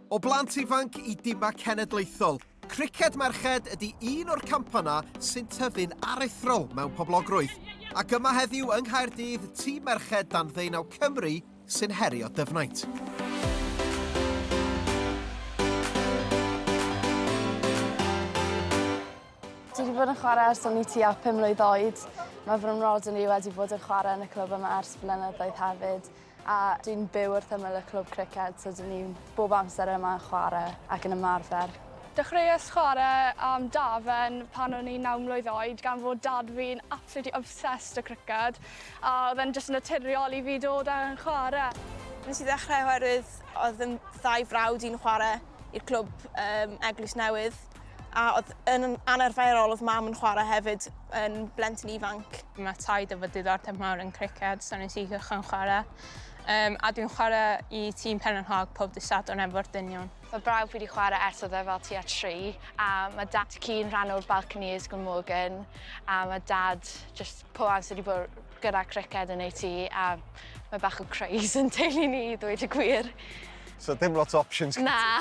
O blant ifanc i dimau cenedlaethol, criced merched ydy un o'r campanau sy'n tyfu'n aruthrol mewn poblogrwydd, ac yma heddiw yng Nghaerdydd tîm merched dan ddeunaw Cymru sy'n herio Dyfnaint. Dwi wedi bod yn chwarae ers o'n i tua pum mlwydd oed. Mae fy mhrodyr i wedi bod yn chwarae yn y clwb yma ers blynyddoedd hefyd. A dwi'n byw wrth ymyl y clwb criced so dyn ni bob amser yma yn chware ac yn ymarfer. Dechreuais chware am Dafen pan o'n i'n naw mlwydd oed gan fod dad fi'n absolutely obsessed â criced a oedd e'n jyst naturiol i fi dod a chware. Nes i ddechrau oherwydd oedd fy ddau frawd i'n chware i'r clwb yym Eglwys Newydd. a oedd yn anarferol, oedd mam yn chwarae hefyd yn blentyn ifanc. Mae taid efo diddordeb mawr yn criced, so nes i gychwyn chwarae. Um, a dwi'n chwarae i tîm Penrhyn Hog pob dysad o'n efo'r dynion. Mae brawf wedi chwarae ers oedd e fel tua tri, a mae dad cyn rhan o'r Balconies Glamorgan, a mae dad just pob amser wedi bod gyda criced yn ei tŷ, a mae bach o craze yn teulu ni, ddweud y gwir. So dim lot o options? Na.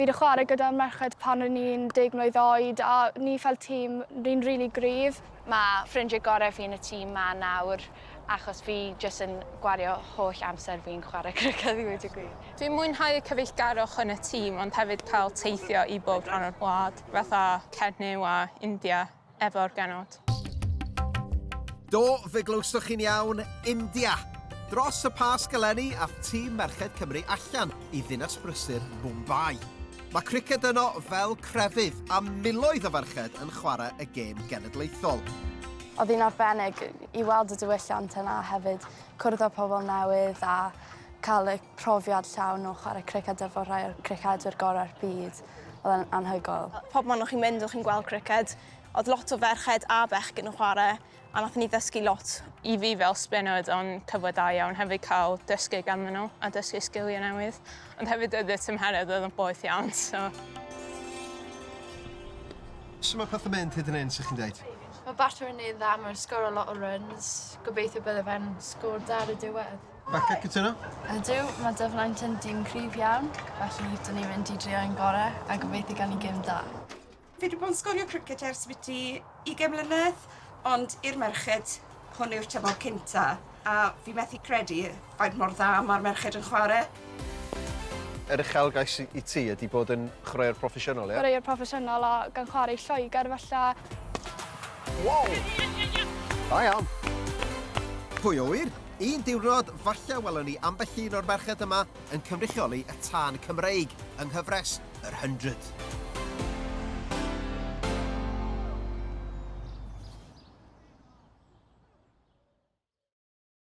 Fi 'di chware gyda merched pan o'n i'n deg mlwydd oed a ni fel tîm ni'n rili gryf. Ma' ffrindie gore fi yn y tîm 'ma nawr achos fi jyst yn gwario holl amser fi'n chware criced i weud y gwir. Dwi'n mwynhau y cyfeillgarwch yn y tîm ond hefyd cael teithio i bob rhan o'r wlad, fatha Cernyw a India. efo'r genod. Do, fe glywsoch chi'n iawn, India! Dros y Pasg eleni, ath tîm merched Cymru allan i ddinas brysur Mumbai. Mae criced yno fel crefydd, a miloedd o ferched yn chwarae y gêm genedlaethol. Oedd hi'n arbennig i weld y diwylliant yna hefyd, cwrdd â pobl newydd a cael y profiad llawn o chwarae criced efo rhai o'r cricedwyr gorau'r byd. Oedd e'n anhygoel. Pob man o'ch chi'n mynd, o'ch chi'n gweld criced, oedd lot o ferched a bechgyn yn chwarae, a nath ni ddysgu lot. I fi fel spinner oedd o'n cyfle da iawn hefyd cael dysgu ganddyn nhw a dysgu sgiliau newydd. Ond hefyd oedd y tymheredd oedd yn boeth iawn, so... Sut mae pethau'n mynd hyd yn hyn, sych chi'n dweud? Mae Barton yn wneud dda, mae'n sgoro lot o runs. Gobeithio bydde fe'n sgôr da ar y diwedd. Becca, cytuno? Ydw, mae dyfnaint yn dîm cryf iawn, felly dyn ni'n mynd i drio ein gorau a gobeithio gan i gym da. Fi wedi bod yn sgorio cricet ers biti 20 mlynedd, ond i'r merched, hwn yw'r tymor cynta, a fi methu credu faint mor dda mae'r merched yn chwarae. Yr uchelgais i ti ydy bod yn chwaraewr proffesiynol, ie? Chwaraewr proffesiynol a gan chwarae i Lloegr, falla. Wow! Da iawn! Pwy a ŵyr? Un diwrnod, falle welwn ni ambell un o'r merched yma yn cynrychioli y tân Cymreig yng nghyfres yr Hundred.